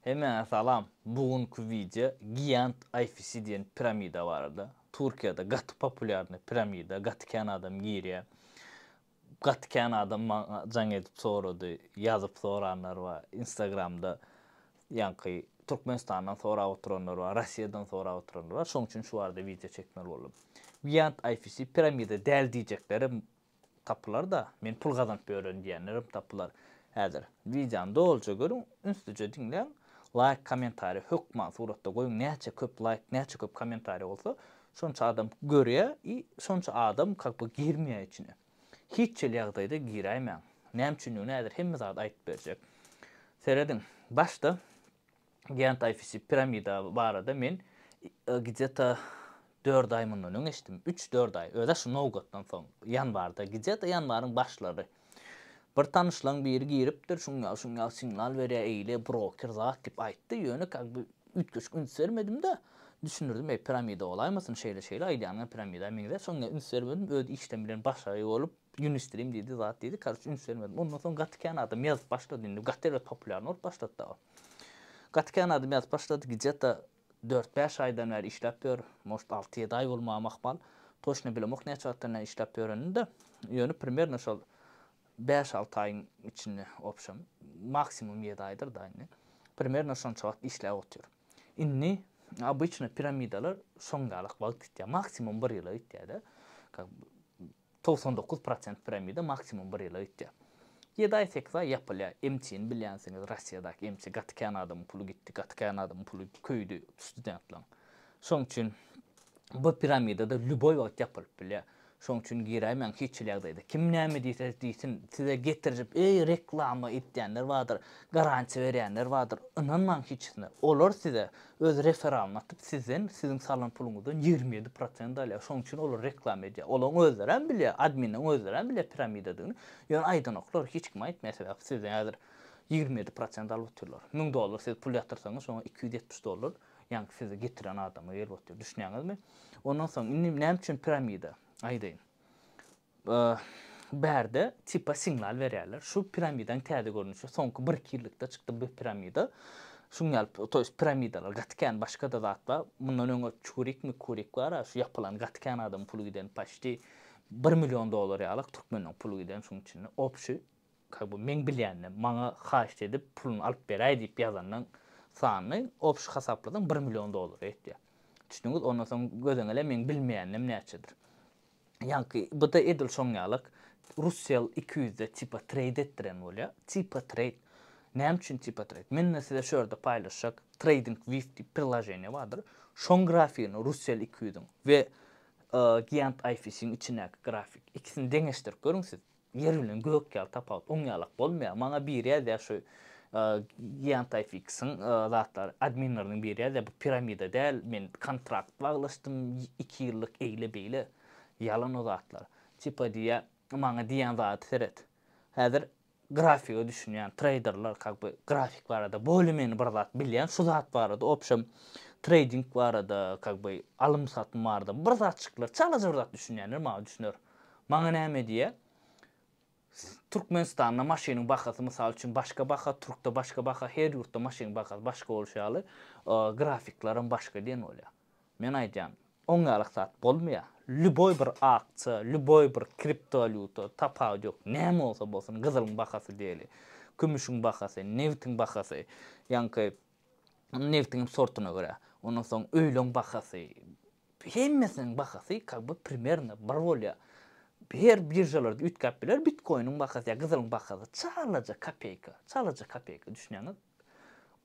Hemäňe salam, bu günki wideo Giant Ayfisi diýen piramida barada. Turkiýada gaty populýarny piramida, gaty kän adam girýä. Gaty kän adam maňa jaň edip sorady, ýazyp soranlar bar, instagramda ýaňky Türkmenistandan sorap oturanlar bar, Rossiýadan sorap oturanlar bar, şoň üçin şu barada wideo çekmeli boldum. Giant Ayfisi piramida däl diýjeklerim tapylar-da, men pul gazanyp ýörün diýenlerem tapylar. Häzir wideony dolyja görüň, ünslüje diňläň, laýk, kommentariý hökman suratda goýuň, näçe köp laýk, näçe köp kommentariý bolsa, şonça adam görýär i şonça adam как бы girmeýär içine. Hiç hili ýagdaýda giräýmäň. Näme üçindigini häzir hemme zady aýdyp berjek. Serediň, başda Gen taýfasy piramida barada men gidýata dört aý mundan öň eşitdim. Üç-dört aý. Öz-ä şu nowgatdan soň. Ýanwarda. Gidýata ýanwaryň başlary. Bir tanyşlaň biri giripdir, şuňňal şuňňal signal berýär, eýle broker zat diýip aýtdy. Ýöne kak bi üýtgeşik üns bermedim-de, düşündirdim, eý piramida bolaýmasyn, şeýle-şeýle aýdýanyňa piramida meňzär. Soň ýa üns bermedim, öz işden bilen başary bolup. Ýunistream diýdi zat diýdi karuç üns bermedim ondan soň gaty kän adam ýazyp başlady indi gaty erbet populýarny bolup başlady dagy gaty kän adam ýazyp başlady gije ta dört bäş aýdan bäri işläp ýör может alty ýedi aý bolmagam ahmal toçna bilemok näçe wagtdan bäri işläp ýörenini de ýöne primerno şol bäş alty aýyň içinde opşam maksimum ýedi aýdyr da indi primerno şonça wagt işläp otyr indi obyçno piramidalar şoň ýalak wagt gitýär maksimum bir ýyla gitýär de kak Togsan dokuz prosent piramida maksimum bir ýyla gitýär. Ýedi aý sekiz aý ýapylýar. Emçini bilýänsiňiz Rossiýadaky emçi gaty kän adamyň puly gitdi gaty kän adamyň puly köýdi studentlaň. Şoň üçin bu piramidada lýuboý wagt ýapylyp bilýär. Şoň üçin giräýmäň hiç hili ýagdaýda. Kim näme diýse diýsin size getirjip eý reklama edýänler bardyr garantiýa berýänler bardyr ynanmaň hiçisine. Olar size Öz referalyny atyp sizden siziň salan puluňyzdan ýigrimi ýedi prosent alýar şoň üçin olar reklama edýär olaň özlerem bilýär adminleň özlerem bilýär piramidadygyny ýöne aýdanoklar hiç kim aýtmaýar sebäp sizden häzir ýigrimi ýedi prosent alyp otyrlar müň dollar siz pul ýatyrsaňyz şoňa iki ýüz ýetmiş dollar ýaňky sizi getiren adama gelip otyr düşünýäňizmi ondan soň indi näme üçin piramida aýdaýyn Bärde tipa signal berýärler. Şu piramidaň täze görnüşi soňky bir iki ýyllikda çykdy bu piramida. Şuň ýaly to ýest piramidalar gaty kän başgada zat bar. Mundan öňe çurik mikurik bara şu ýapylan gaty kän adamyň puly giden paşti bir million dollar ýalyk türkmeniň puly giden şuň içinde obşi ka bu meň bilýändim maňa haýşt edip puluny alyp beräý diýip ýazanyň sanyny obşi hasaplasaň bir million dollara ýetýär. Düşdüňiz ondan soň gözeňele meň bilmeýändim näçedir. Ýaňky bda edil şoň ýalak Russell iki ýüzde tipa treýd etdiren bolýa. Tipa treýd. Näme üçin tipa treýd? Mende size şu ýerde paýlaşjak Trading View diýip prilaženiýa bardyr. Şoň grafigini Russell iki ýüzüň we Giant IFC-iň içindäki grafik. Ikisini deňeşdirip görüň siz. Ýer bilen gök ýaly tapawut, on ýalak bolmaýar. Maňa biri ýazýar şu Giantifix-iň zatlary, adminleriniň biri ýazýar, bu piramida däl, men kontrakt baglaşdym, iki ýyllyk eýle-beýle. Ýalan o zatlar. Tipa diýýär, maňa diýýän zady seret. Häzir grafige düşünýän treýderler как бы grafik barada bolýa-meni bir zat bilýän, şu zat barada obşem treýding barada, как бы alym-satym barada bir zatjyklar, çalaja bir zat düşünýänler maňa düşüner. Maňa näme diýýär? Türkmenistanda maşynyň bahasy mysal üçin başga baha, türkde başga baha, her ýurtda maşynyň bahasy başga bolşy ýaly, grafikler hem başga diýen bolýar. Men aýdýan, oň ýaly zat bolmaýar. Lýuboý bir aksiýa, lýuboý bir kriptowalýuta, tapawudy ýok, näme bolsa bolsun, gyzylyň bahasy diýeli, kümüşiň bahasy, nebitiň bahasy, ýaňky nebitiň hem sortuna görä, ondan soň öýlüň bahasy, Hemmesiniň bahasy kak by primerno bir bolýa. Her biržalarda üýtgäp biler bitkoiniň bahasy ýa gyzylyň bahasy çalaja kopeýka, çalaja kopeýka düşünýäňiz.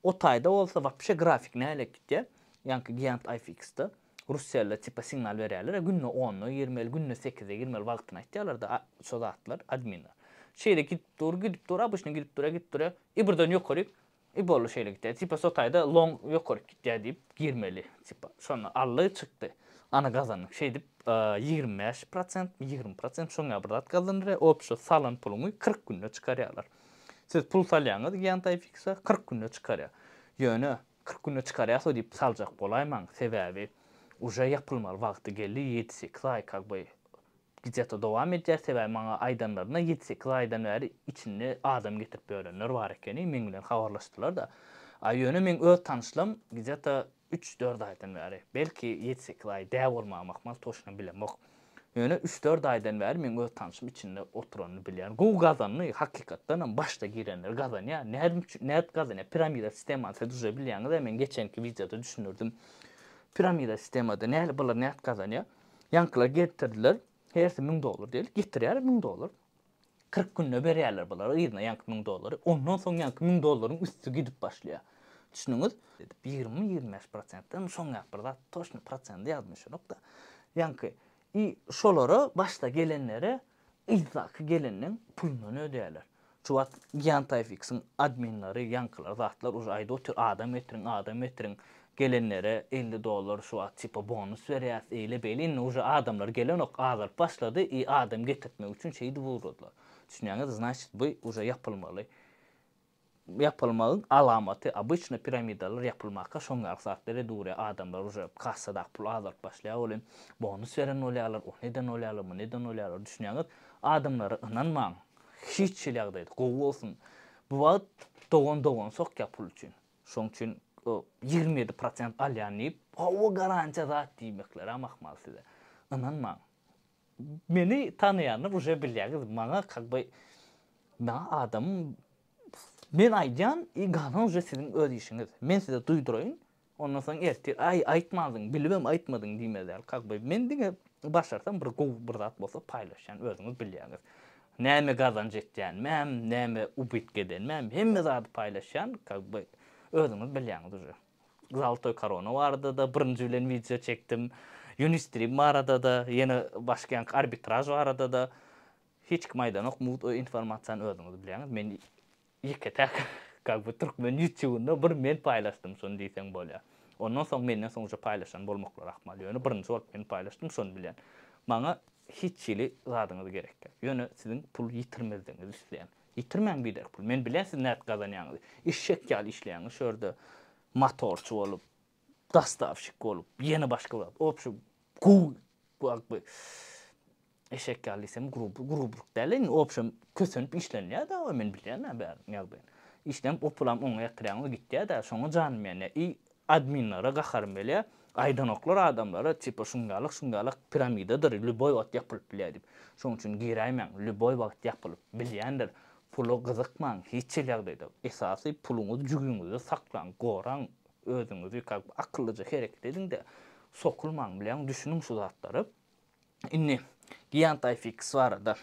O taýda bolsa wapşe grafik nälet gitýä. Ýaňky giant IFX-de Russiýalylar tipa signal berýäler ýa günde onda girmeli, günde sekizde girmeli wagtyny aýtýalarda şo zatlar adminler. Şeýle gidip dur, gidip dur, obişne gidip dur ýa gidip dur ýa, ibirden ýokaryk I boldy şeýle gitýä tipa sotaýda long ýokaryk gitýä diýip girmeli tipa şonda aldy çykdy ana gazandyk şeýdip ýigrimi bäş prosentmi ýigrimi prosent şoň ýaly bir zat gazanylýa opşo salan puluňy kyrk günde çykarýalar siz pul salýaňyz ýantaýfiksa kyrk günde çykarýa ýöne kyrk günde çykarýaso diýip saljak bolaýmaň sebäbi uje ýapylmaly wagty geldi ýedi sekiz aý kak by Gijata dowam edýär sebäbi maňa aýdanlaryna ýedi sekiz aýdan bäri içinde adam getirip ýörenler bar ekeni meň bilen habarlaşdylarda a ýöne meň öz tanyşlym gijata üç dört aýdan bäri belki ýedi sekiz aý dä bolmagy mahmal toşna bilemok ýöne üç dört aýdan bäri meň öz tanyşym içinde oturanyny bilýän gowy gazandy hakykatdanam başda girenler gazanýar nädm üçin nädip gazanýar piramida sistemany siz duje bilýäňiz a men geçenki wideoda düşündirdim piramida sistemada nädip olar nädip gazanýar. Ýaňkylar getirdiler, hersi müň dollar diýeli, getirýärler müň dollar. Kyrk günde berýärler bulara yzyna ýaňky müň dollary. Ondan soň ýaňky müň dollaryň üsti gidip başlaýar. Düşündiňiz? Diýip, ýigrimi, ýigrimi bäş prosentden şoňňäp bir zat, toçny prosendi ýadyma düşenok-da. Ýaňky, i şolara başda gelenlere Yzdaky gelenden pulundan ödäýler. Şu wagt Yantyfx-iň adminleri ýaňkylar zatlar uje aýdyp otyr adam getiriň adam getiriň gelenlere elli dollar şu wagt tipa bonus berýäs eýle beýle indi uje adamlar gelenok azalyp başlady i adam getirtmek üçin şeýdip ugradylar düşünýäňizmi znaçit bu uje ýapylmaly Ýapylmagyň alamaty obyçny piramidalar ýapylmaka şoň ýaly zat bere durýa adamlar uje kassadak pul azalyp başlaýa ol hem bonus beren bolýalar ony eden bolýalar muny eden bolýalar düşünýäňiz adamlara ynanmaň hiç hili ýagdaýda gowy bolsun bu wagt dogan dogan sokýa pul üçin şoň üçin ýigrimi ýedi prosent alýan diýip gowy garantiýa zat diýmeklerem ahmal size ynanmaň Meni tanaýanlar uje bilýäňiz maňa kak by maňa adam men aýdýan i galan uje siziň öz işiňiz men size duýduraýyn ondan soň ertir aý aýtmandyň bilibem aýtmadyň diýmezler kak by men diňe başarsam bir gowy bir zat bolsa paýlaşýan özüňiz bilýäňiz näme gazanç etýänimem näme ubitk edenimem hemme zady paýlaşýan kak by özüňiz bilýäňiz uje. Zaltoý korona barada-da birinji bilen wideo çekdim. Unistream barada-da, ýene başga ýaňky arbitraž barada-da. Hiç kim aýdanok, mugt o informasiýany özüňiz bilýäňiz. Men ýeke-täk kak bu türkmen ýutýubynda bir men paýlaşdym şony diýseň bolýar. Ondan soň menden soň uje paýlaşan bolmaklary ahmal. Ýöne birinji bolup men paýlaşdym şony bilýän. Maňa hiç hili zadyňyz gerek ýok. Ýöne siziň pul ýitirmezligiňizi isleýän. Ýitirmäň biderk pul. Men bilýän siz nädip gazanýaňyzy. Eşek ýaly işleýäňiz şu ýerde. Motorçy bolup, dostawşik bolup, ýene başga zat. Obşi guby wagt bi eşek ýaly diýsem gruby grubylyk däl-le indi. Obşem kösenip işlenýär dawa men bilýän-ä bärini ýagdaýyny. Işlenip o pulam oňa ýatyrýaňyz gitýär-dä. Şoňa janym ýanýar. I Adminlere gaharym gelýä. Aýdanoklar adamlara tipa şungalyk şungalyk piramidadyr lýuboý wagt ýapylyp bilýä diýip. Şoň üçin giräýmäň lýuboý wagt ýapylyp bilýändir. Pula gyzykmaň hiç hil ýagdaýda. Esasy puluňyzy jübüňizde saklaň, goraň özüňizi kak bir akyllyja hereket ediňde sokulmaň bileň düşüniň şu zatlara. Indi Giantifx barada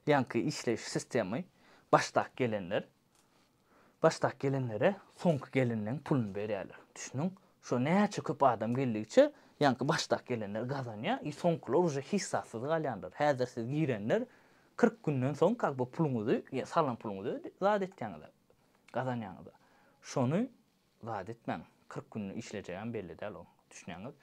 ýaňky işleýiş sistemy başdak gelenler Başdaky gelinlere soňky gelinleň puluny berýärler. Düşüniň, şo näçe köp adam geldigiçe, ýaňky başdaky gelinler gazanýar i soňkular uje hissassyz galýanlar. Häzir siz girenler kyrk günden soň kak bu puluňyzy, salan puluňyzy zat etýäňiz-a, gazanýaňyz-a. Şony zat etmäň. Kyrk gün işlejegem belli däl oň. Düşnýäňiz?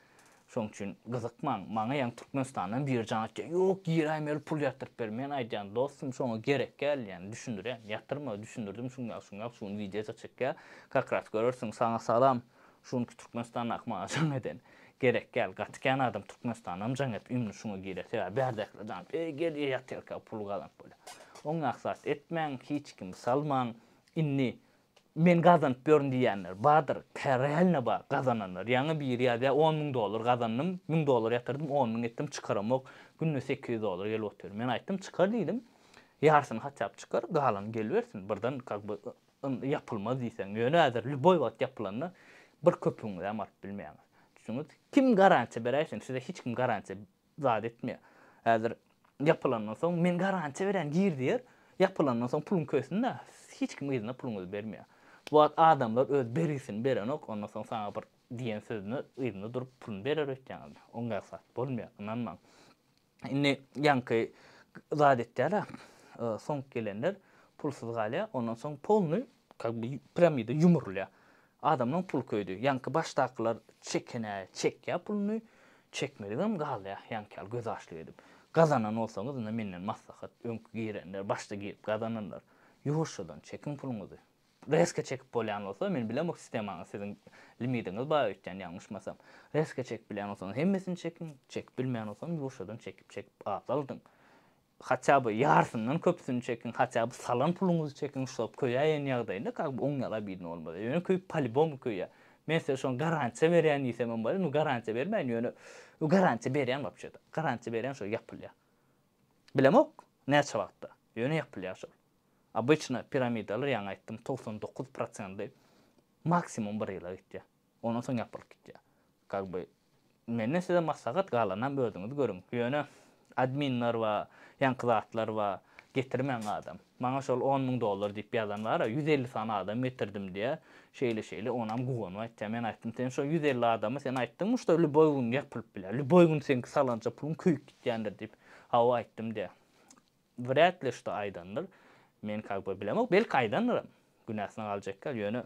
Şoň üçin gyzykmaň. Maňa ýaňy Türkmenistandan biri jaň etýär. Ýok, giräýmeli pul ýatyrp ber. Men aýdýan, dostum, şoňa gerek gäl, ýäni düşündirýän. Ýatyrma, düşündirdim, şuň ýaly, şuň ýaly, şu gün wideo-da çekýär. Kakras görersiň. Saňa salam. Şu günki Türkmenistandaky maňa jaň eden. Gerek gäl. Gaty kän adam Türkmenistandanam jaň edip, ýumruny şuňa girýär. Sebäbi bärdekiler jaň edip, eý, gel, ýatyrka, puly gazanyp bolýar. Oňňak zat etmäň, hiç kimi salmaň. Indi Men gazanyp ýörün diýýänler bardyr. Kä realno bar gazananlar. Ýaňy biri ýazýar, on müň dollar gazandym, müň dollar ýatyrdym, on müň etdim, çykaramok, günde sekiz ýüz dollar gelip otyr. Men aýtdym, çykar diýdim. Ýarsyny haçan çykar, galany gelibersin. Birden kak by yndy ýapylmaz diýseň. Ýöne häzir lýuboý wagt ýapylanda bir köpügiňizem alyp bilmeýäňiz. Düşdüňiz? Kim garantiýa beräýsin? Size hiç kim garantiýa zat etmeýär. Häzir ýapylandan soň men garantiýa berýän gir diýer, ýapylandan soň puluň kösün-dä, hiç kim yzyna puluňyzy bermeýär. Bu wagt adamlar öz bergisini berenok, ondan soň saňa bir diýen sözüne yzyna durup puluny berer öýtýäňizmi? Oňa zat bolmaýar, ynanmaň. Indi ýaňky zat etýär-ä, soň gelenler pulsuz galýar, ondan soň polny Kak bi piramida ýumrulýar. Adamlaň puly köýdi. Ýaňky başdakylar çekenä çekýär puluny, çekmedigem galýar ýaňky ýaly göz açlyk edip. Gazanan bolsaňyz indi menden maslahat, öňki girenler, başda girip gazananlar, ýuwaşjadan çekiň puluňyzy. Reske çekip bolýan bolsa, men bilemok sistemaňyzy siziň limidiňiz bar öýtýän ýalňyşmasam. Reske çekip bilýän bolsaňyz hemmesini çekiň, çekip bilmeýän bolsaňyz ýuwaşjadan çekip çekip azaldyň. Haça by ýarsyndan köpüsini çekiň haça by salan puluňyzy çekiň şulap köýäýen ýagdaýynda kak by oň ýala bidin bolmaz ýöne köýüp palibomu köýýä men size şoň garantiýa berýän diýsemem bolýa nu garantiýa bermäýin ýöne nu garantiýa berýän wapçe da garantiýa berýän şol ýapylýa bilemok näçe wagtda ýöne ýapylýa şol obyçna piramidalar ýaňy aýtdym togsan dokuz prosendy maksimum bir ýyla gitýä. Ondan soň ýapylyp gitýär. Как бы menden size maslahat galanam özüňiz görüň. Ýöne adminler bar, ýaňky zatlar bar, getirmäň adam. Maňa şol on müň dollar diýip ýazan bara ýüz elli sany adam getirdim diýýär. Şeýle şeýle onam guwanyp aýtýar. Men aýtdym sen şo ýüz elli adamy sen aýtdyňmy şda lýuboý gün ýapylyp biler. Lýuboý gün seňki salanja puluň köýüp gitýändir diýip. Hawa aýtdym diýýär. Wrät li şto aýdandyr. Men kak by bilemok. Belki aýdandyram. Günäsine galjakka ýöne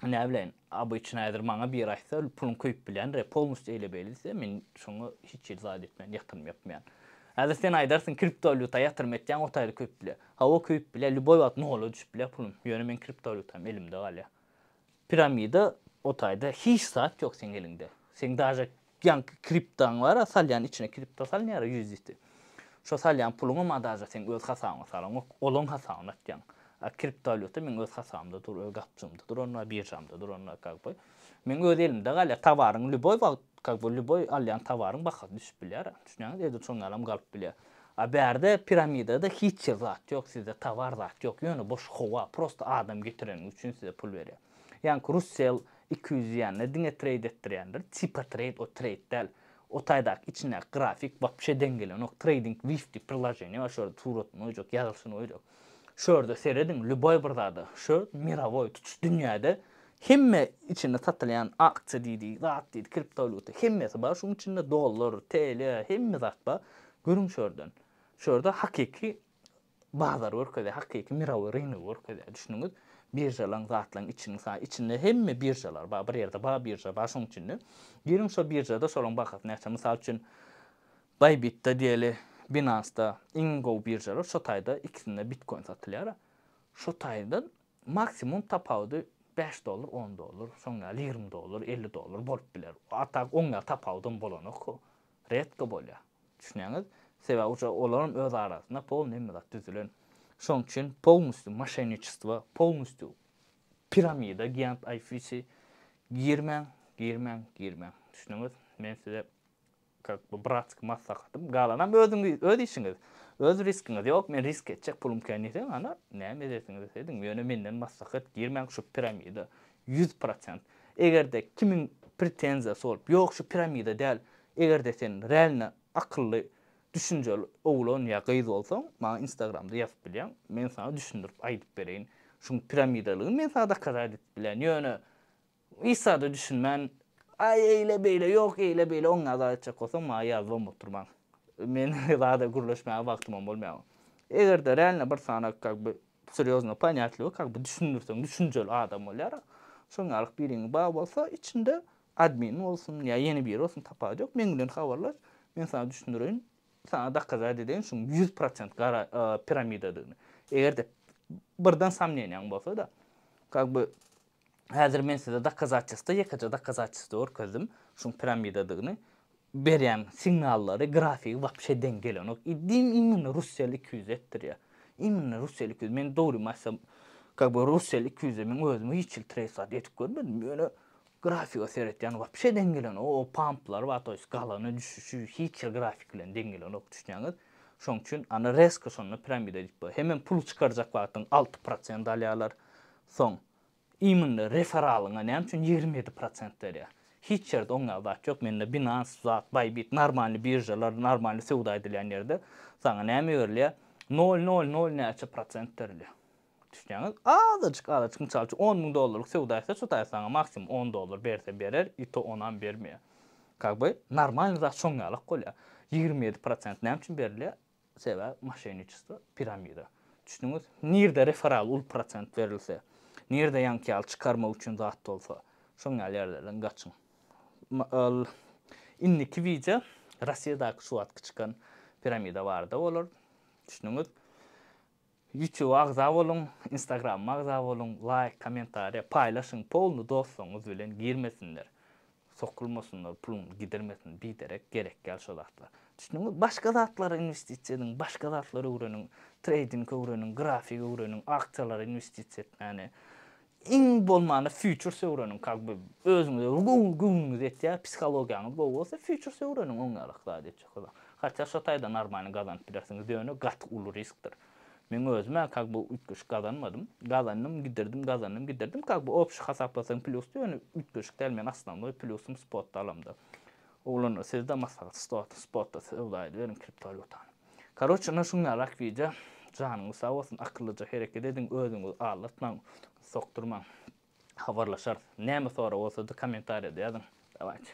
näbileýin. Obyçnyý häzir maňa biri aýtsa puluň köýüp bilýändir ýa polnustý eýle beýle diýse men şoňa hiç hili zat etmän ýatyrym ýapmaýan. Häzir sen aýdarsyň kriptowalýuta ýatyrym etýäň otaýly köýüp bilýä. Hawa köýüp bilýä lýuboý wagt nola düşüp bilýä pulum. Ýöne meň kriptowalýutam elimde galýa. Piramida o taýda hiç zat ýok seň eliňde. Seň daže ýaňky kriptaň bara salýan içine kripta salnyara USDT. Şo salýan puluňam a daže seň öz hasabyňa salaňok. Olaň hasabyna atýaň. A kriptowalýuta meň öz hasabymda dur, öz gapjygymda dur onda, biržamda dur onda kak by. Meň öz elimde galýar. Towaryň lýuboý wagt kak by lýuboý alýan towaryň bahasy düşüp bilýär. Düşünýäňiz? Edil şoň ýalam galyp bilýär. A bärde piramidada hiç ýer zat ýok sizde towar zat ýok ýöne boş howa prosta adam getireniňiz üçin size pul berýär ýaňky russell iki ýüz diýende diňe treýd etdirýändir tipa treýd o treýd däl o taýdaky içindäki grafik wapşe deň gelenok treýding wifti prilajeniýa bar şo ýerde suratyny goýjak ýazylyşyny goýjak Şu ýerde serediň, lýuboý bir zada, şu mirowoý, tutuş dünýäde hemme içinde satylýan aksiýa diýdi, zat diýdi, kriptowalýuta, hemmesi bar, şuň içinde dollar, TL, hemme zat bar. Görüň şu ýerden. Şu ýerde hakyky bazary görkezýär, hakyky mirowoý rynok görkezýär, düşündiňiz? Biržalaň, zatlaň içini, mysal, içinde hemme biržalar bar, bir ýerde bar birža bar şuň içinde. Giriň şu biržada şolaň bahasy näçe, mysal üçin, Bybit-de diýeli, Binance-da iň gowy biržalar, şo taýda ikisinde bitkoin satylýar. Şo taýda maksimum tapawudy bäş dollar, on dollar, şoň ýaly ýigrimi dollar, elli dollar bolup biler. A tak oň ýaly tapawudam bolanok. Redko bolýar. Düşünýäňiz? Sebäbi ujar olaram öz arasynda polny hemme zat düzülen. Şoň üçin polnustýu moşenniçestwo, polnustýu piramida giant ayfisi girmäň, girmäň, girmäň. Düşündiňiz? Men size Kak bu bratsk maslahatym galanam özüňiz öz işiňiz öz riskiňiz ýok men risk etjek pulum kän diýseň ana näme edesiňiz ediň ýöne menden maslahat girmäň şu piramida ýüz prosent egerde kimiň pretenziýasy bolup ýok şu piramida däl egerde sen realno akylly düşünjeli oglan ýa gyz bolsaň maňa instagramda ýazyp bilýäň men saňa düşündirip aýdyp bereýin şuň piramidalygyny men saňa dokazat edip bilýän ýöne Isa-da düşünmän, Aý, eýle-beýle, ýok, eýle-beýle, oňňa zat etjek bolsaň, maňa ýazyban bolup dur maňa. Meniň zada gürleşmäge wagtymam bolmaýar. Eger-de realno bir sany kak by serýozno ponyatlygy kak by düşündirseň, düşünjeli adam bolýar-a. Şoň ýaly biriň bar bolsa, içinde admin bolsun ýa ýene biri bolsun, tapawudy ýok, meň bilen habarlaş, men saňa düşündireýin, saňa dokazat edeýin şuň ýüz prosent gara piramidadygyny. Eger-de birden somneniýaň bolsa-da, kak by Häzir men size dokazatçestwo, ýekeje dokazatçestwo görkezdim, şuň piramidadygyny. Berýän signallary, grafigi wapşe deň gelenok. Iddiýim imminno Russell iki ýüz etdirýär. Imminno Russell iki ýüz. Men dogrymy aýtsam, kak be, Russell iki ýüze men özüm hiç hili treýsat edip görmedim, ýöne grafiga seretýän wapşe deň gelenok. O pamplary bar, to ýest galany düşüşi hiç hili grafik bilen deň gelenok, düşünýäňiz? Şoň üçin, ana, rezko şonda piramida diýip bolar. Hemem puly çykarjak wagtyň alty prosent alýarlar. Soň, imynda referalyňa näme üçin ýigrimi ýedi prosent berýär? Hiç ýerde oň ýaly zat ýok, mende Binance zat, Bybit, normalny biržalar, normalny söwda edilýän ýerde saňa näme berilýär? Nol nol nol näçe prosent berilýär. Düşýäňiz? Azajyk azajyk mysal üçin on müň dollarlyk söwda etse şu taýy saňa maksimum on dollar berse berer i to onam bermeýär. Kak by normalny zat şoň ýalak bolýar. Ýigrimi ýedi prosent näme üçin berilýär? Sebäbi moşenniçestvo piramida. Düşdüňiz? Nirde referal uly prosent berilse, nirde ýaňky ýaly çykarmak üçin zat bolsa, şoň ýaly ýerlerden gaçyň. Ol indiki wideo Rossiýadaky şu wagtky çykan piramida barada bolar. Düşdüňiz? Ýutube agza boluň, Instagramyma agza boluň, laýk, kommentariýa, paýlaşyň, polny dostlaryňyz bilen girmesinler, sokulmasynlar, puluňyzy gidirmesin, biderek gerek däl şo zatlar. Düşdüňiz? Başga zatlara inwestisiýa ediň, başga zatlar öwreniň, treýding öwreniň, grafik öwreniň, aksiýalara inwestisiýa etmäni, Iň bolmanda futuresi öwreniň kak be özüňize göwnüňiz ýetýär psihologiýaňyz gowy bolsa futuresi öwreniň oň ýaly ykdysady etjek bolan hatýa şo taýdan normalny gazanyp bilersiňiz ýöne gaty uly riskdir meň özümä kak be üýtgeşik gazanmadym gazandym gidirdim gazandym gidirdim kak be obşi hasaplasaň plýusdy ýöne üýtgeşik däl meň asnownoý plýusym spotda alamda oglanlar sizde maslahat stotda söwda ediberiň kriptowalýutany. Karoç ine şunnarak wideo janyňyz sag bolsun akyllyja hereket ediň özüňizi aldatmaň sokdurmaň habarlaşarys näme sorag bolsada komentariýada ýazyň dawayçy.